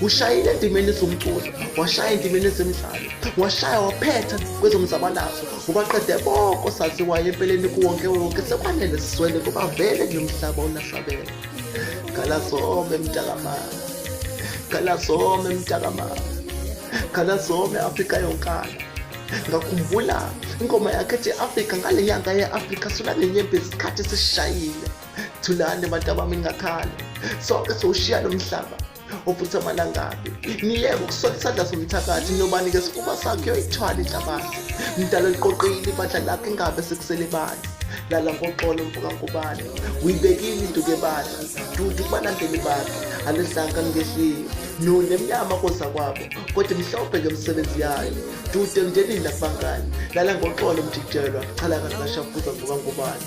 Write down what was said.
ushayile endimeni zomculo washaya endimeni zemidlalo washaya waphetha kwezomzabalazo ubaqede boko saziwayo empeleni kuwonke wonke sekwanele sizwele kuba vele ngiyomhlaba unahlabela galazome mntakamama galazome mntakamama galazome afrika yonkana ngakhumbula ingoma yakhe ethi afrika ngale nyanga ye-afrika sola nenyembezi isikhathi sishayile thulani bantu abami ningakhala sonke sowushiya lo mhlaba ofuthi amalangabi niyeke ukusola isandla somthakathi nobani ke sikuba sakhe yoyithwala inhlabathi mdala liqoqile ibandla lakho ingabe sekusele bani lala ngoxolo mfukangubane uyibekile into kebandla dudu kubalandeli bakhe alidlanga ngehliyo none mnyama koza kwabo kodwa imhlophe ke msebenzi yayo dude mndenini nakubangani lala ngoxolo mjijelwa chalaka singashafuza mfukangubane